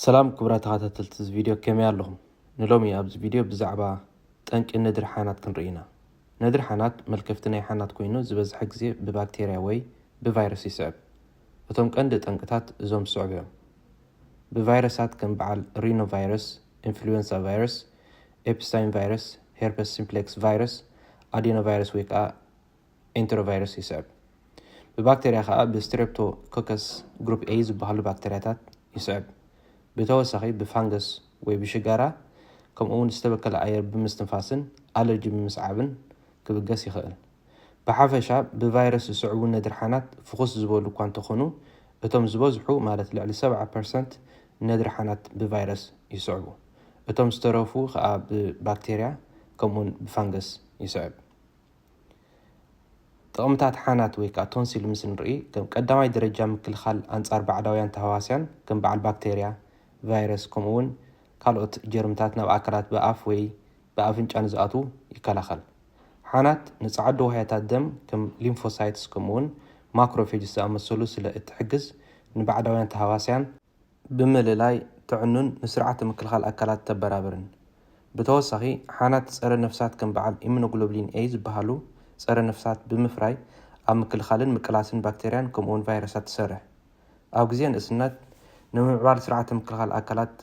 ሰላም ክቡራት ተኻታተልቲ እዚ ቪድዮ ከመይ ኣለኹም ንሎሚ ኣብዚ ቪድዮ ብዛዕባ ጠንቂ ነድሪ ሓናት ክንርኢ ኢና ነድሪ ሓናት መልከፍቲ ናይ ሓናት ኮይኑ ዝበዝሐ ግዜ ብባክቴርያ ወይ ብቫይረስ ይስዕብ እቶም ቀንዲ ጠንቅታት እዞም ዝስዕቡ እዮም ብቫይረሳት ከም በዓል ሪኖ ቫይረስ ኢንፍሉዌንሳ ቫይረስ ኤፕስታይን ቫይረስ ሄርፐስ ሲምፕሌክስ ቫይረስ ኣዴኖ ቫይረስ ወይ ከዓ ኤንተሮቫይረስ ይስዕብ። ብባክተርያ ከኣ ብስትረፕቶኮከስ ግሩፕ ኤይ ዝበሃሉ ባክተርያታት ይስዕብ። ብተወሳኺ ብፋንገስ ወይ ብሽጋራ ከምኡ'ውን ዝተበከለ ኣየር ብምስትንፋስን ኣለርጂ ብምስዓብን ክብገስ ይኽእል። ብሓፈሻ ብቫይረስ ዝስዕቡ ነድርሓናት ፍኹስ ዝበሉ እኳ እንተኾኑ እቶም ዝበዝሑ ማለት ልዕሊ ሰብዓ ፐርሰንት ነድርሓናት ብቫይረስ ይስዕቡ። እቶም ዝተረፉ ከኣ ብባክተርያ ከምኡ'ውን ብፋንገስ ይስዕብ። ጥቕምታት ሓናት ወይ ከኣ ቶንሲል ምስ ንርኢ፣ ከም ቀዳማይ ደረጃ ምክልኻል ኣንጻር ባዕዳውያን ተሃዋስያን ከም በዓል ባክተርያ፣ ቫይረስ ከምኡ'ውን ካልኦት ጀርምታት ናብ ኣካላት ብኣፍ ወይ ብኣፍንጫ ንዝኣትዉ ይከላኸል። ሓናት ንጸዓዱ ዋህያታት ደም ከም ሊምፎሳይትስ ከምኡ'ውን ማክሮፌጅስ ዝኣመሰሉ ስለ እትሕግዝ ንባዕዳውያን ተሃዋስያን፣ ብምልላይ ተዕኑን ንስርዓተ ምክልኻል ኣካላት ተበራብርን። ብተወሳኺ ሓናት ፀረ ነፍሳት ከም በዓል ኢሙኖግሎብሊን ኤይ ዝበሃሉ ፀረ ነፍሳት ብምፍራይ ኣብ ምክልኻልን ምቅላስን ባክቴርያን ከምኡ እውን ቫይረሳት ትሰርሕ። ኣብ ግዜ ንእስነት ንምምዕባል ስርዓተ ምክልኻል ኣካላት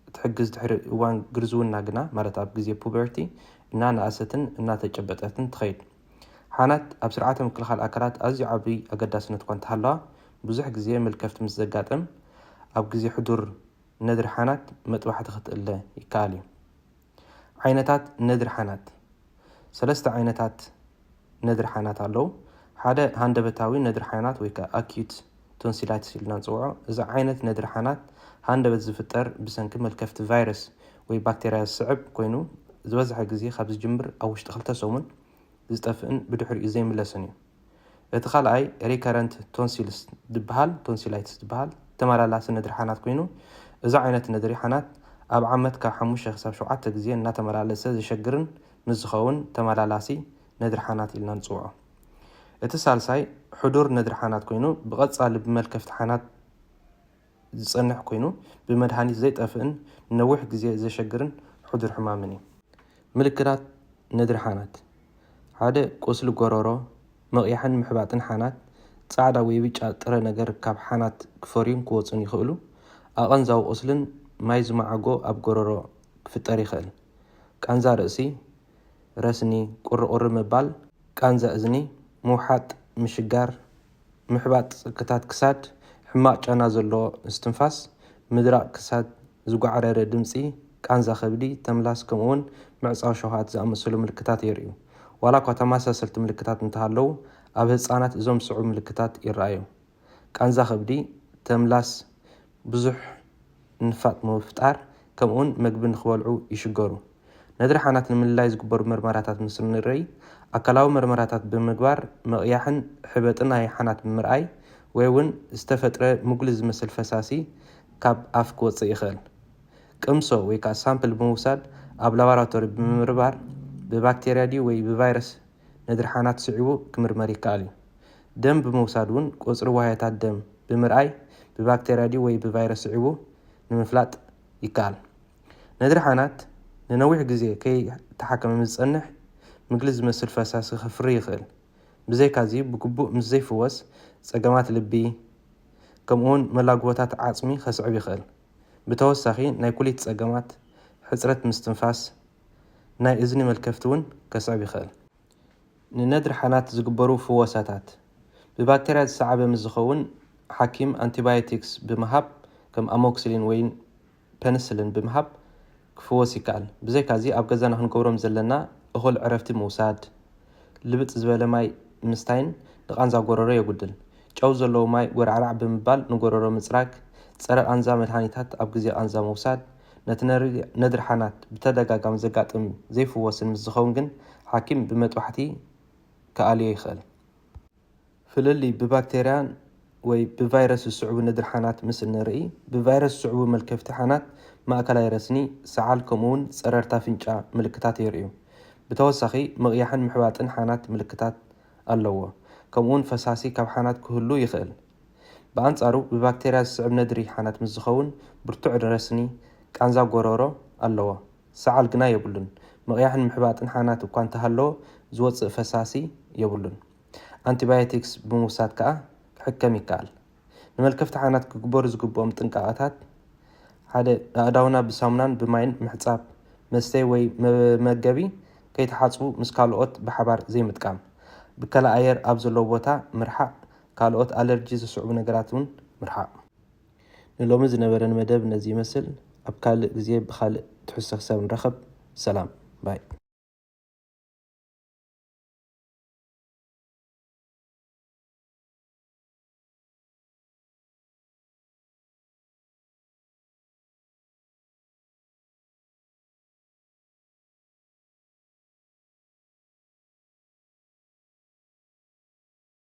እትሕግዝ ድሕሪ እዋን ግርዝውና ግና ማለት ኣብ ግዜ ፑበርቲ እናነኣሰትን እናተጨበጠትን ትኸይድ። ሓናት ኣብ ስርዓተ ምክልኻል ኣካላት ኣዝዩ ዓቢ ኣገዳስነት እኳ እንተሃለዋ ብዙሕ ግዜ ምልከፍቲ ምስ ዘጋጥም ኣብ ግዜ ሕዱር ነድሪ ሓናት መጥባሕቲ ክትእለ ይከኣል እዩ። ዓይነታት ነድሪ ሓናት ሰለስተ ዓይነታት ነድሪ ሓናት ኣለዉ። ሓደ ሃንደበታዊ ነድሪ ሓናት ወይ ከኣ ኣክዩት ቶንሲላይትስ ኢልና ንጽውዖ። እዚ ዓይነት ነድሪ ሓናት ሃንደበት ዝፍጠር ብሰንኪ መልከፍቲ ቫይረስ ወይ ባክተርያ ዝስዕብ ኮይኑ ዝበዝሐ ግዜ ካብ ዝጅምር ኣብ ውሽጢ ክልተ ሰሙን ዝጠፍእን ብድሕሪኡ ዘይምለስን እዩ። እቲ ካልኣይ ሪከረንት ቶንሲልስ ዝበሃል፣ ቶንሲላይትስ ዝበሃል፣ ተመላላሲ ነድሪ ሓናት ኮይኑ፣ እዚ ዓይነት ነድሪ ሓናት ኣብ ዓመት ካብ ሓሙሽተ ክሳብ ሸውዓተ ግዜ እናተመላለሰ ዘሸግርን ምስ ዝኸውን ተመላላሲ ነድሪ ሓናት ኢልና ንጽውዖ። እቲ ሳልሳይ ሕዱር ነድሪ ሓናት ኮይኑ፣ ብቐጻሊ ብመልከፍቲ ሓናት፣ ዝጸንሕ ኮይኑ ብመድሃኒት ዘይጠፍእን ንነዊሕ ግዜ ዘሸግርን ሕዱር ሕማምን እዩ። ምልክታት ነድሪ ሓናት ሓደ ቁስሊ ጎሮሮ፣ ምቕያሕን ምሕባጥን ሓናት፣ ጻዕዳ ወይ ብጫ ጥረ ነገር ካብ ሓናት ክፈርዩን ክወጹን ይኽእሉ፣ ኣቐንዛዊ ቁስልን ማይ ዝመዓጎ ኣብ ጎሮሮ ክፍጠር ይኽእል፣ ቃንዛ ርእሲ፣ ረስኒ፣ ቁሪ ቁሪ ምባል፣ ቃንዛ እዝኒ፣ ምውሓጥ፣ ምሽጋር፣ ምሕባጥ ጽግታት ክሳድ፣ ሕማቕ ጨና ዘለዎ ምስትንፋስ፣ ምድራቕ ክሳድ፣ ዝጓዕረረ ድምጺ፣ ቃንዛ ከብዲ፣ ተምላስ ከምኡ'ውን ምዕጻው ሸውሃት ዝኣመሰሉ ምልክታት የርእዩ። ዋላኳ ተመሳሰልቲ ምልክታት እንተሃለዉ፣ ኣብ ህጻናት እዞም ዝስዕቡ ምልክታት ይረኣዩ፣ ቃንዛ ከብዲ፣ ተምላስ፣ ብዙሕ ንፋጥ ንምፍጣር ከምኡውን መግቢ ንኽበልዑ ይሽገሩ። ነድሪ ሓናት ንምልላይ ዝግበሩ መርመራታት ምስ እንርእይ፣ ኣካላዊ መርመራታት ብምግባር ምቕያሕን ሕበጢ ናይ ሓናት ብምርኣይ ወይ እውን ዝተፈጥረ ምጉሊ ዝመስል ፈሳሲ ካብ ኣፍ ክወጽእ ይኸእል። ቅምሶ ወይ ከኣ ሳምፕል ብምውሳድ ኣብ ላባራቶሪ ብምምርባር ብባክቴርያ ድዩ ወይ ብቫይረስ ነድሪ ሓናት ስዒቡ ክምርመር ይከኣል እዩ። ደም ብምውሳድ እውን ቁጽሪ ዋህዮታት ደም ብምርኣይ ብባክተርያ ድዩ ወይ ብቫይረስ ስዒቡ ንምፍላጥ ይከኣል። ነድሪ ሓናት ንነዊሕ ግዜ ከይተሓከመ ምስ ዝጸንሕ ምግሊ ዝመስል ፈሳሲ ከፍሪ ይኽእል። ብዘይካዚ ብግቡእ ምስ ዘይፍወስ ጸገማት ልቢ ከምኡውን መላግቦታት ዓጽሚ ከስዕብ ይኽእል። ብተወሳኺ ናይ ኩሊት ጸገማት፣ ሕጽረት ምስትንፋስ፣ ናይ እዝኒ መልከፍቲ እውን ከስዕብ ይኽእል። ንነድሪ ሓናት ዝግበሩ ፍወሳታት፣ ብባክተርያ ዝሰዓበ ምስ ዝኸውን፣ ሓኪም ኣንቲባዮቲክስ ብምሃብ፣ ከም ኣሞክሲሊን ወይ ፐንስልን ብምሃብ ክፍወስ ይከኣል። ብዘይካዚ፣ ኣብ ገዛና ክንገብሮም ዘለና፣ እኹል ዕረፍቲ ምውሳድ፣ ልብጥ ዝበለ ማይ ምስታይን ንቓንዛ ጎረሮ የጉድል። ጨው ዘለዎ ማይ ጎራዕራዕ ብምባል ንጎረሮ ምጽራግ፣ ጸረ-ቓንዛ መድሃኒታት ኣብ ግዜ ቓንዛ ምውሳድ፣ ነቲ ነድሪ ሓናት ብተደጋጋሚ ዘጋጥም ዘይፍወስን ምስ ዝኸውን ግን ሓኪም ብመጥባሕቲ ክኣልዮ ይኸእል። ፍልልይ ብባክተርያ ወይ ብቫይረስ ዝስዕቡ ነድሪ ሓናት ምስ እንርኢ፣ ብቫይረስ ዝስዕቡ መልከፍቲ ሓናት፣ ማእከላይ ረስኒ፣ ሰዓል ከምኡውን ጸረርታ ኣፍንጫ ምልክታት የርእዩ። ብተወሳኺ ምቕያሕን ምሕባጥን ሓናት ምልክታት ኣለዎ፣ ከምኡውን ፈሳሲ ካብ ሓናት ክህሉ ይኸእል። ብኣንጻሩ ብባክተርያ ዝስዕብ ነድሪ ሓናት ምስ ዝኸውን ብርቱዕ ረስኒ፣ ቃንዛ ጎሮሮ፣ ኣለዎ። ሰዓል ግና የብሉን። ምቕያሕን ምሕባጥን ሓናት እኳ እንተሃለዎ ዝወጽእ ፈሳሲ የብሉን። ኣንቲባዮቲክስ ብምውሳድ ከኣ ክሕከም ይከኣል። ንመልከፍቲ ሓናት ክግበሩ ዝግብኦም ጥንቃቐታት፣ ሓደ ኣእዳውና ብሳሙናን ብማይን ምሕጻብ፣ መስተዪ ወይ መመገቢ ከይተሓጽቡ ምስ ካልኦት ብሓባር ዘይምጥቃም፣ ብከላ ኣየር ኣብ ዘለዎ ቦታ ምርሓቕ፣ ካልኦት ኣለርጂ ዝስዕቡ ነገራት ውን ምርሓቕ። ንሎሚ ዝነበረኒ መደብ ነዚ ይመስል ኣብ ካልእ ግዜ ብኻልእ ትሕዝቶ ክሳብ ንራኸብ ሰላም ባይ።